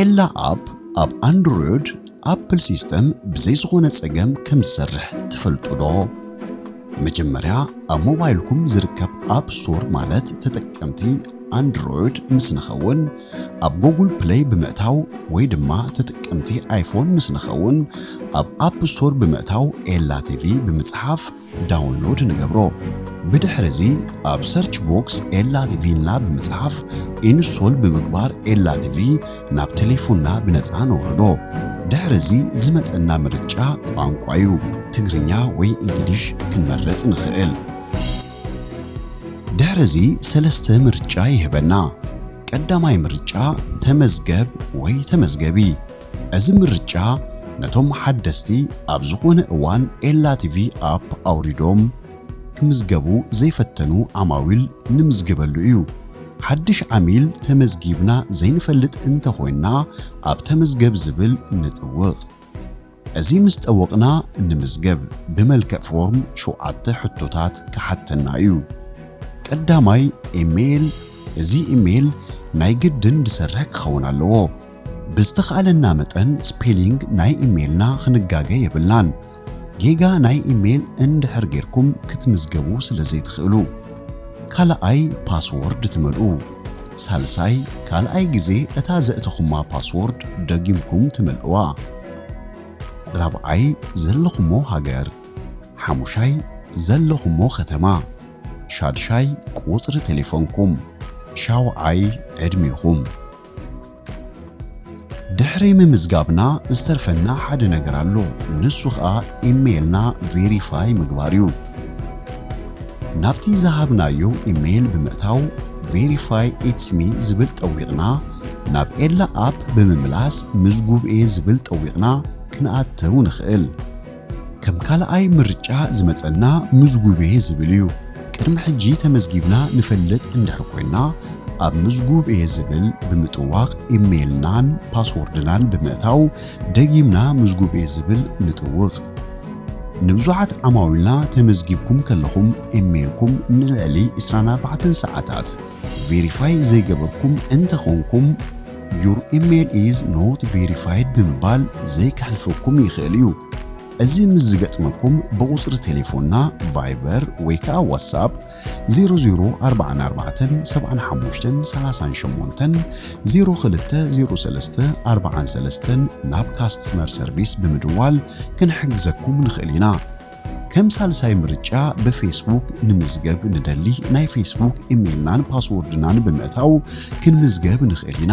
ኤላ ኣፕ ኣብ ኣንድሮይድ ኣፕል ሲስተም ብዘይ ዝኾነ ጸገም ከም ዝሰርሕ ትፈልጡ ዶ? መጀመርያ ኣብ ሞባይልኩም ዝርከብ ኣፕ ስቶር ማለት ተጠቀምቲ ኣንድሮይድ ምስ ንኸውን ኣብ ጎጉል ፕለይ ብምእታው ወይ ድማ ተጠቀምቲ ኣይፎን ምስ ንኸውን ኣብ ኣፕ ስቶር ብምእታው ኤላ ቲቪ ብምጽሓፍ ዳውንሎድ ንገብሮ። ብድሕሪ እዚ ኣብ ሰርች ቦክስ ኤላ ቲቪ ኢልና ብምጽሓፍ ኢንስቶል ብምግባር ኤላ ቲቪ ናብ ተሌፎንና ብነጻ ነውርዶ። ድሕሪ እዚ ዝመጸና ምርጫ ቋንቋ እዩ። ትግርኛ ወይ እንግሊሽ ክንመርጽ ንኽእል። ድሕሪ እዚ ሰለስተ ምርጫ ይህበና። ቀዳማይ ምርጫ ተመዝገብ ወይ ተመዝገቢ። እዚ ምርጫ ነቶም ሓደስቲ ኣብ ዝኾነ እዋን ኤላ ቲቪ ኣፕ ኣውሪዶም ክምዝገቡ ዘይፈተኑ ዓማዊል ንምዝግበሉ እዩ። ሓድሽ ዓሚል ተመዝጊብና ዘይንፈልጥ እንተኾይንና ኣብ ተመዝገብ ዝብል ንጥውቕ። እዚ ምስ ጠወቕና ንምዝገብ ብመልክዕ ፎርም ሸውዓተ ሕቶታት ክሓተና እዩ። ቀዳማይ ኢሜይል፣ እዚ ኢሜይል ናይ ግድን ዝሰርሕ ክኸውን ኣለዎ። ብዝተኻእለና መጠን ስፔሊንግ ናይ ኢሜይልና ክንጋገ የብልናን፣ ጌጋ ናይ ኢሜይል እንድሕር ጌርኩም ክትምዝገቡ ስለ ዘይትኽእሉ። ካልኣይ ፓስዎርድ ትመልኡ። ሳልሳይ ካልኣይ ግዜ እታ ዘእተኹማ ፓስዎርድ ደጊምኩም ትመልእዋ። ራብዓይ ዘለኹሞ ሃገር። ሓሙሻይ ዘለኹሞ ከተማ። ሻድሻይ ቁጽሪ ቴሌፎንኩም። ሻውዓይ ዕድሜኹም። ድሕሪ ምምዝጋብና ዝተርፈና ሓደ ነገር ኣሎ ንሱ ኸኣ ኢሜይልና ቬሪፋይ ምግባር እዩ። ናብቲ ዝሃብናዮ ኢሜይል ብምእታው Verify It's Me ዝብል ጠዊቕና ናብ ኤላ ኣፕ ብምምላስ ምዝጉብ እየ ዝብል ጠዊቕና ክንኣትው ንኽእል። ከም ካልኣይ ምርጫ ዝመጸና ምዝጉቤ ዝብል እዩ። ቅድሚ ሕጂ ተመዝጊብና ንፈልጥ እንድሕር ኮይና ኣብ ምዝጉቤ ዝብል ብምጥዋቅ ኢሜይልናን ፓስዎርድናን ብምእታው ደጊምና ምዝጉቤ ዝብል ንጥውቅ። ንብዙሓት ዓማዊልና ተመዝጊብኩም ከለኹም ኢሜይልኩም ንልዕሊ ዕስራን ኣርባዕተን ሰዓታት ቬሪፋይ ዘይገበርኩም እንተኾንኩም፣ Your email is not verified ብምባል ዘይክሕልፈኩም ይኽእል እዩ። እዚ ምስ ዝገጥመኩም ብቑጽሪ ቴሌፎንና ቫይበር ወይ ከኣ ዋትስኣፕ 00447538020343 ናብ ካስትመር ሰርቪስ ብምድዋል ክንሕግዘኩም ንኽእል ኢና። ከም ሳልሳይ ምርጫ ብፌስቡክ ንምዝገብ ንደሊ ናይ ፌስቡክ ኢሜልናን ፓስዎርድናን ብምእታው ክንምዝገብ ንኽእል ኢና።